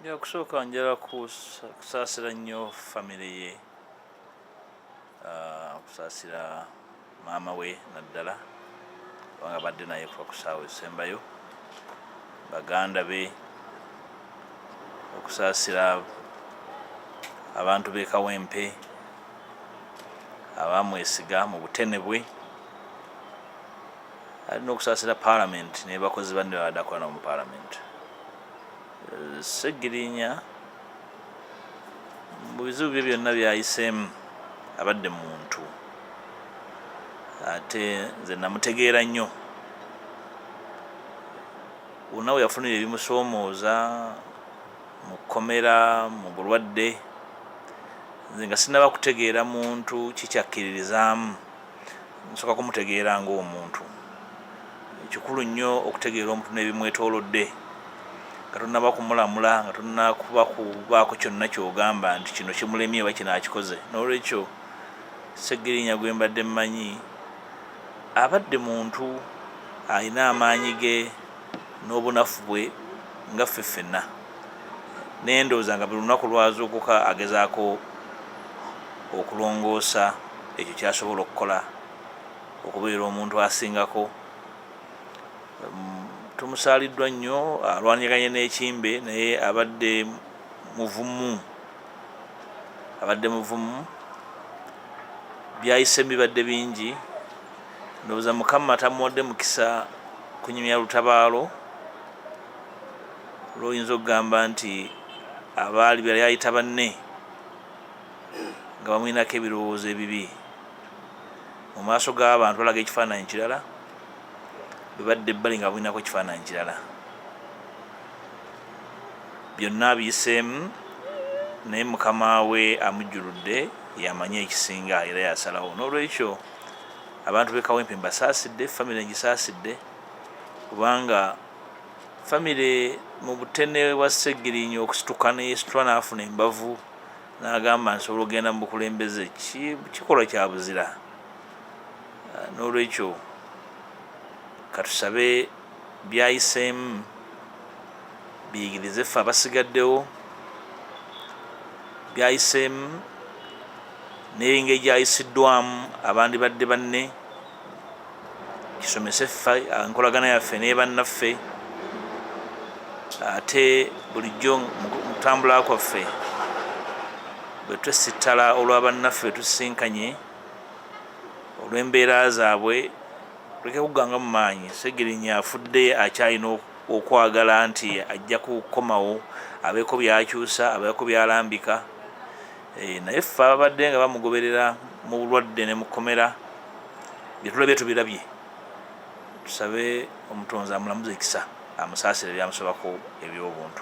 byakusooka njala kusaasira nnyo famire ye ah, okusaasira maama we naddala kubanga badde naye kuba kusaawa esembayo baganda be okusaasira abantu b'ekawempe abamwesiga mu butene bwe alina okusaasira palamenti nebakozi banne badakolana mu palamenti Ssegirinya mu bizibu bye byonna byayiseemu abadde muntu ate nze namutegeera nnyo unawe yafunira ebimusoomooza mu kkomera mu bulwadde nze nga sinaba kutegeera muntu kikyakkiririzaamu nsooka kumutegeera ng'omuntu kikulu nnyo okutegeera omuntu n'ebimwetoolodde nga tonnaba kumulamula nga tonnakuba kubaako kyonna kyogamba nti kino kimulemye oba kino akikoze n'olwekyo segirinya gwe mbadde mmanyi abadde muntu alina amaanyi ge n'obunafu bwe nga ffe ffenna naye ndowooza nga buli lunaku lwazuukuka agezaako okulongoosa ekyo kyasobola okukola okubeera omuntu asingako tumusaaliddwa nnyo alwanyaganye n'ekimbe naye abadde muvumu abadde muvumu byayise bibadde bingi ndowooza mukama tamuwadde mukisa kunyumya lutabaalo lwoyinza okugamba nti abaali beyali ayita banne nga bamulinako ebirowoozo ebibi mu maaso g'abantu balaga ekifaananyi kirala bebadde ebbali nga bamulinako ekifaananyi kirala byonna abiyiseemu naye mukama we amujjuludde yamanyi ekisinga era yasalawo n'olwekyo abantu bekawempe mbasaasidde famire ngisaasidde kubanga Famire mu butene bwa Ssegirinya okusituka neyesitula n'afuna embavu n'agamba nsobola okugenda mu bukulembeze kikolwa kya buzira. Ah, n'olwekyo katusabe byayiseemu biyigirize ffe abasigaddewo byayiseemu n'engeri gyayisiddwamu abandibadde banne. kisomese ffe enkolagana yaffe nebannaffe ate bulijjo mukutambula kwaffe bwetwesittala olwa bannaffe betusisinkanye olw'embeera zaabwe tuleke kugganga mu maanyi segirinya afudde akyalina okwagala nti ajja kukomawo abeeko byakyusa abeeko byalambika Eh, naye ffe ababadde nga bamugoberera mu bulwadde ne mukomera byetulabye tubirabye tusabe omutonzi amulamuza ekisa amusaasire byamusobako ebyobuntu